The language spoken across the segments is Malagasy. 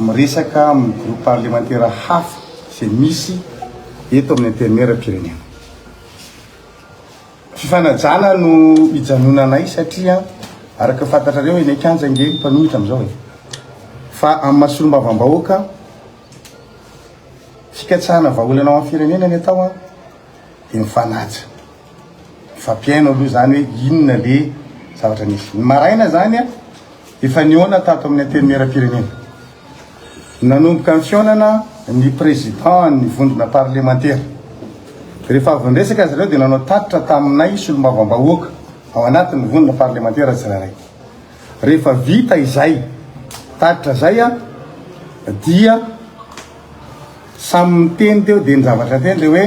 Miresaka amin'ny groupe parlemantera hafa izay misy eto amin'ny antenimieram-pirenena. Fifanajana no hijanonanay satria araka ny fantatrareo eny an-kianja ange ny mpanohitra amin'izao e! Fa amin'ny maha solombavambahoaka, fikatsahana vahaolana ho an'ny firenena ny atao dia mifanaja. Mifampihaino aloha izany hoe inona ilay zavatra nisy. Ny maraina izany, efa nihaona tato amin'ny Antenimierampirenena. Nanomboka ny fihaonana ny Président-n'ny vondrona parlemantera. Rehefa avy niresaka izy ireo dia nanao tatitra taminay solombavambahoaka ao anatin'ny vondrona parlemantera tsirairay. Rehefa vita izay tatitra izay dia samy niteny teo dia ny zavatra niteny dia hoe.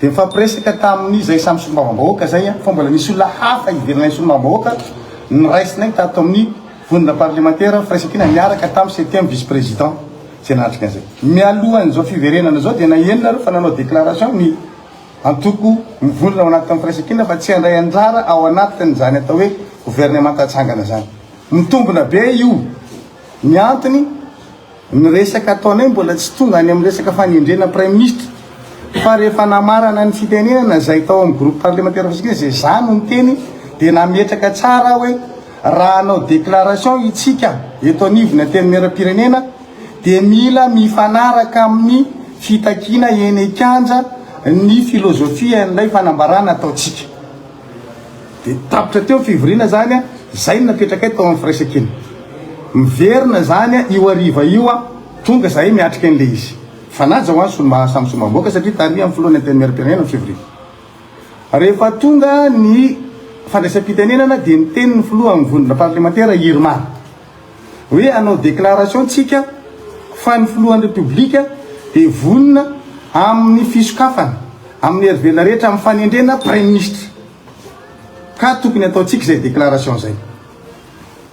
Dia nifampiresaka tamin' izay samy solombavambahoaka izay aho, fa mbola nisy olona hafa ivelanay solombavambahoaka noraisinay tato amin' ny vondrona parlemantera firaisankina niaraka tamin'ny septième vice président izay nanatrika an'izay. Mialohan' izao fiverenana izao dia naheno nareo fa nanao déclaration ny antoko mivondrona ao anatin' ny firaisankina fa tsy handray anjara ao anatin' izany atao hoe gouvernemanta hatsangana izany. Mitombina be io ny antony. Ny resaka ataonay mbola tsy tonga any amin'ny resaka fanendrena praiminisitra fa rehefa namarana ny fitenenana izay tao amin'ny groupe parlementaire Fasikiana izay izaho no niteny dia nametraka tsara aho hoe raha hanao déclaration itsika eto anivon'ny antenimieram-pirenena dia mila mifanaraka amin'ny fitakiana eny an-kianja ny philosophie an'ilay fanambarana ataontsika. Dia tapitra teo ny fivoriana izany an! Izay no napetrakay tao amin'ny firaisankina. Miverina izany an! Io hariva io an! Tonga izahay miatrika an'ilay izy. Mifanaja ho an'ny solombavambahoaka samy solombavambahoaka satria tarihan'ny filohan'ny Antenimierampirenena ny fivoriana. Rehefa tonga ny fandraisam-pitenenana dia niteny ny filoha amin'ny vondrondraparlemantera Irma. hoe hanao déclaration tsika fa ny filohan'ny Repoblika dia vonona amin'ny fisokafana amin'ny herivelona rehetra amin'ny fanendrena praiminisitra ka tokony hataontsika izay déclaration izay.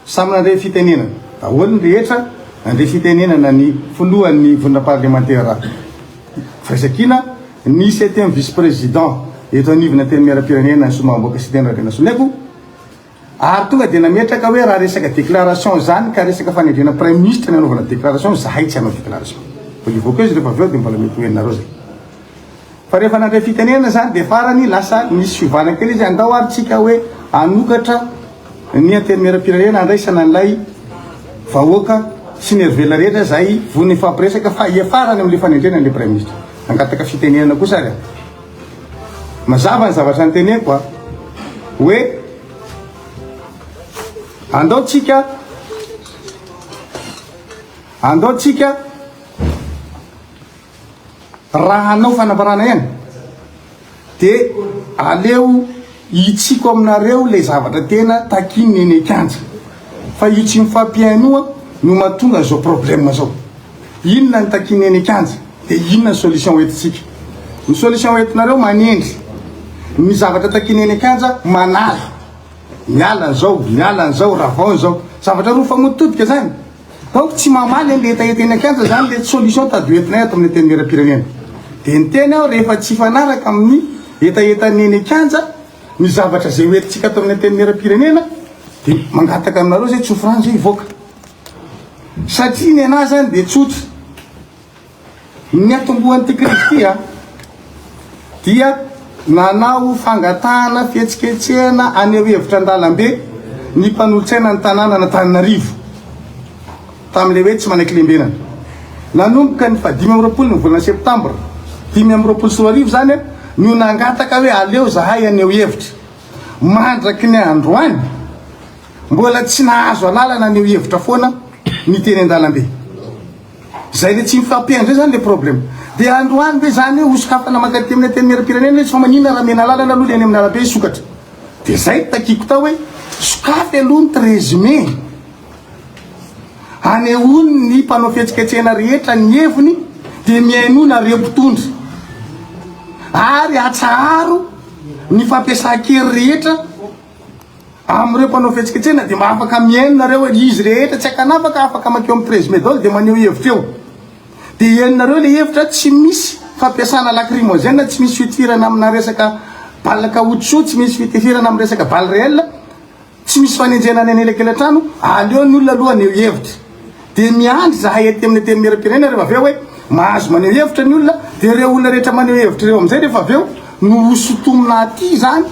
Samy nandray fitenenana daholo ny rehetra, nandray fitenenana ny filohan'ny vondrona parlemantera Firaisankina, ny septième vice-président eto anivon'ny Antenimierampirenena, ny Solombavambahoaka Siteny Rabenasoloniaiko, Ary tonga dia nametraka hoe raha resaka déclaration izany ka resaka fanendrena praiminisitra ny hanaovana déclaration, izahay tsy hanao déclaration. Mbola hivoaka eo izy ireo fa avy eo dia mbola mety ho henonareo izay. Fa rehefa nandray fitenenana izany dia farany lasa nisy fiovana kely izy, andao ary tsika hoe hanokatra ny antenimieram-pirenena handraisana an'ilay vahoaka sy ny herivela rehetra izay vonona hifampiresaka fa hiafarany amin'ilay fanendrena ilay praiminisitra. Nangataka fitenenana kosa ary aho. Mazava ny zavatra niteneko a! hoe andao tsika andao tsika raha hanao fanambarana ihany dia aleo Hitsiko aminareo ilay zavatra tena takian'ny eny an-kianja, fa io tsy mifampihainoa no mahatonga izao problème izao. Inona no takian'ny eny an-kianja dia inona ny solution hoentintsika. Ny solution hoentinareo manendry ny zavatra takian'ny eny an-kianja manala, miala an'izao, miala an'izao, ravao an'izao. Zavatra roa mifamotototoka izany. Donc tsy mamaly anle hetaheta eny an-kianja zany le solution tady hoentinay ato amin'ny antenimieram-pirenena. Dia niteny aho rehefa tsy hifanaraka amin'ny hetahetan'ny eny an-kianja ny zavatra izay hoentintsika ato amin'ny antenimieram-pirenena dia mangataka aminareo izay tsofrano izay hivoaka. Satria ny anah zany dia tsotra. Ny atombohan'ity krizy ity dia nanao fangatahana fihetsiketsehana haneho hevitra an-dalambe ny mpanolotsaina ny tanànan'Antananarivo tamin'ilay hoe tsy manaiky lembenana. Nanomboka ny fahadimy amby roapolo ny volana septambra dimy amby roapolo sy roa arivo izany no nangataka hoe aleo izahay haneho hevitra. Mandraky ny androany, mbola tsy nahazo alalana haneho hevitra foana ny teny an-dalambe. Zay le tsy mifampihaino zay zany le problème. De androany ve zany hoe hosokafana mankaty amin'ny antenimieram-pirenena izy fa maninona raha mena alalana aloha le any amin'ny arabe hisokatra. De zay no takiako tao hoe sokafy aloha ny treize mai hanehoany ny mpanao fihetsiketsehana rehetra ny heviny de mihainoa nareo mpitondra ary atsaharo ny fampiasan-kery rehetra Amin'ireo mpanao fihetsiketsehana dia mba afaka mihaino nareo e! Izy rehetra tsy ankanavaka afaka makeo amin'ny Prezmedol dia maneho hevitra eo. Dia henonareo ilay hevitra, tsy misy fampiasana lacrymogène, tsy misy fitifirana amina resaka balle caoutchouc, tsy misy fitifirana amin'ny resaka balle réelle, tsy misy fanenjehana any an'elakelatrano, aleo ny olona aloha haneho hevitra. Dia miandry izahay aty amin'ny Antenimierampirenena rehefa avy eo hoe mahazo maneho hevitra ny olona, dia ireo olona rehetra maneho hevitra ireo amin'izay rehefa avy eo no hosintomina aty izany.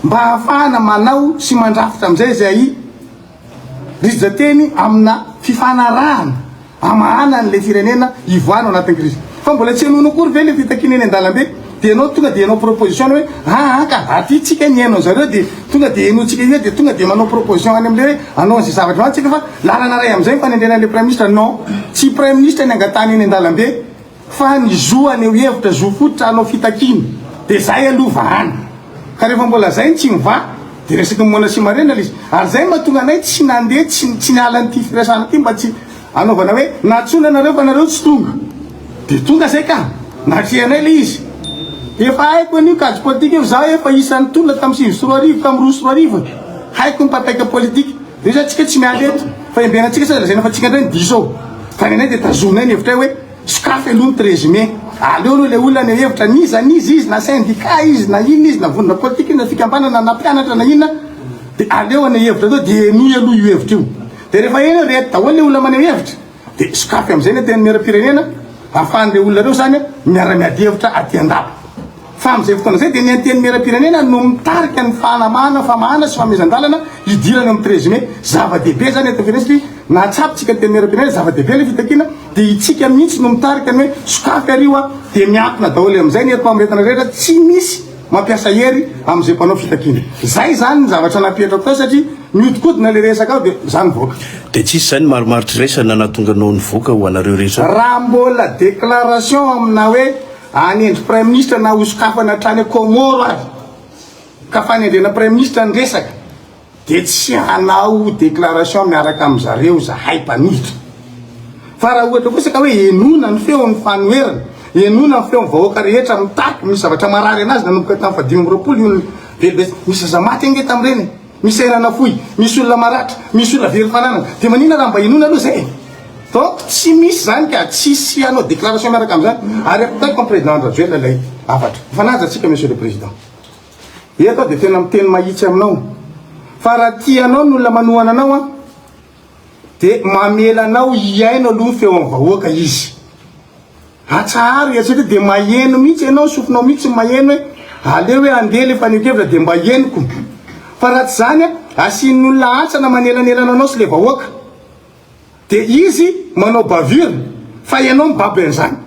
mba hahafahana manao sy mandrafitra amin'izay izay rijan-teny amina fifanarahana hamahana an'ilay firenena hivoahana ao anatin'ny krizy. Fa mbola tsy henoinao akory ve ilay fitakiana eny an-dalambe? Dia ianao tonga dia hanao proposition hoe aa ka aty tsika ny haino an'zareo dia tonga dia henointsika io dia tonga dia manao proposition any amin'ilay hoe hanao an'izay zavatra izany tsika fa lalana iray amin'izay ny fanendrena an'ilay praiminisitra. Non, tsy praiminisitra ny angatahana eny an-dalambe. Fa ny zo haneho hevitra, zo fototra hanao fitakiana, dia izay aloha vahana. Ka rehefa mbola izay no tsy mivaha, dia resaky ny moana sy marena ilay izy. Ary izay no mahatonga anay tsy nandeha, tsy tsy niala an'ity firesahana ity mba tsy hanaovana hoe, nantsoina anareo fa nareo tsy tonga. Dia tonga izay ka! Natrehanay ilay izy. Efa haiko an'io kajy politika io, izaho efa isan'ny tolona tamin'ny sivy sy roa arivo, tamin'ny roa sy roa arivo e! Haiko ny mpapaika politika. Dia io izany tsika tsy miala eto, fa emberantsika sao dia lazaina fa tsika indray ny diso ao. Tany anay dia tazominay ny hevitray hoe sokafy aloha ny treize mai. Aleo aloha ilay olona haneho hevitra n'iza n'iza izy, na syndicat izy, na inona izy, na vondrona politika izy, na fikambanana, na mpianatra, na inona, dia aleo haneho hevitra aloha dia henoy aloha io hevitra io. Dia rehefa heno hoe reto daholo ilay olona maneho hevitra, dia sokafy amin'izay ny Antenimierampirenena, ahafahan'ireo olona ireo izany miara-miady hevitra aty an-dapa. Fa amin'izay fotoana izay dia ny Antenimierampirenena no mitarika ny fanamahana, famahana sy fanomezan-dalana hidirana eo amin'ny treize mai. Zava-dehibe izany eto am-pirenena satria nahatsapitsika ny Antenimierampirenena, zava-dehibe ilay fitakiana dia itsika mihitsy no mitarika ny hoe sokafy ary io a! dia miankina daholo amin'izay ny herim-pamoretana rehetra, tsy misy mampiasa hery amin'izay mpanao fitakiana. Izay izany ny zavatra nampihetrako tao satria mihodinkodina ilay resaka ao dia za nivoaka. Dia tsisy izay ny marimaritra iraisana nahatonga anao nivoaka ho anareo rehetra? Raha mbola déclaration aminà hoe. Hanendry Praiminisitra na hosokafana hatrany Comore ary ka fanendrena Praiminisitra ny resaka dia tsy hanao déclaration miaraka amin-dry zareo izahay mpanohitra. Fa raha ohatra kosa ka hoe henoina ny feon'ny fanoherana, henoina ny feon'ny vahoaka rehetra mitaky misy zavatra marary anazy nanomboka tamin'ny fahadimy amby roapolo io ny velivetsy, nisy aza maty ange tamin'ireny e! Misy sahirana fohy, misy olona maratra, misy olona very fananana, dia maninona raha mba henoina aloha izay e? Donc tsy misy izany ka tsy hisy hanao déclaration miaraka amin'izany ary ampitaiko amin'ny Président Andry Rajoelina ilay hafatra. Mifanaja tsika Monsieur le Président. Eto aho dia tena miteny mahitsy aminao fa raha tia anao ny olona manohana anao an, De mamela anao hihaino aloha ny feon'ny vahoaka izy. Atsaharo iantsika ity de maheno mihitsy ianao, sofinao mihitsy ny maheno hoe aleo hoe andeha le fanehoan-kevitra de mba henoko. Fa raha tsy zany a, asian'ny olona hantsana manelanelana anao sy le vahoaka. De izy manao bavure fa ianao mibaby an'izany.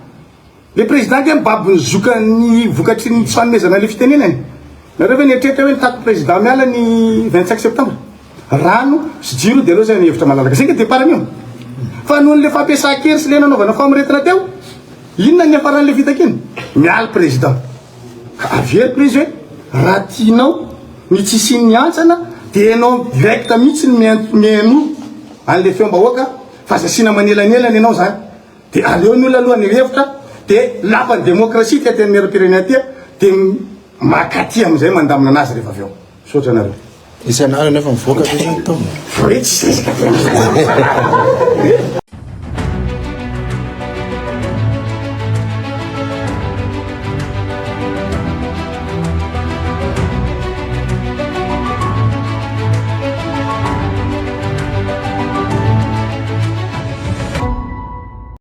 Le président dia mibaby ny zokany vokatry ny tsy fanomezana le fitenenany? Nareo ve nieritreritra hoe nitaky président miala ny vingt cinq septembre? Rano sy jiro dia aleo zay ny hevitra malalaka zay nga départ anio? Fa noho ny le fampiasan-kery sy le nanaovana famoretana teo? Inona ny niafaran'ny le fitakiana? Miala président. Ka avy eo prise hoe raha tianao ny tsy hisian'ny hantsana dia ianao direct mihitsy no mihaino an'le feom-bahoaka fa aza asiana manelanelana ianao zany. Dia aleo ny olona aloha ny revitra dia lapa ny demokrasia ity antenimieram-pirenena ity dia maka aty amin'izay mandamina anazy rehefa avy eo. Misaotra anareo. Nisy anareo nefa mivoaka ve zany tao? Voe tsisy resaka tena.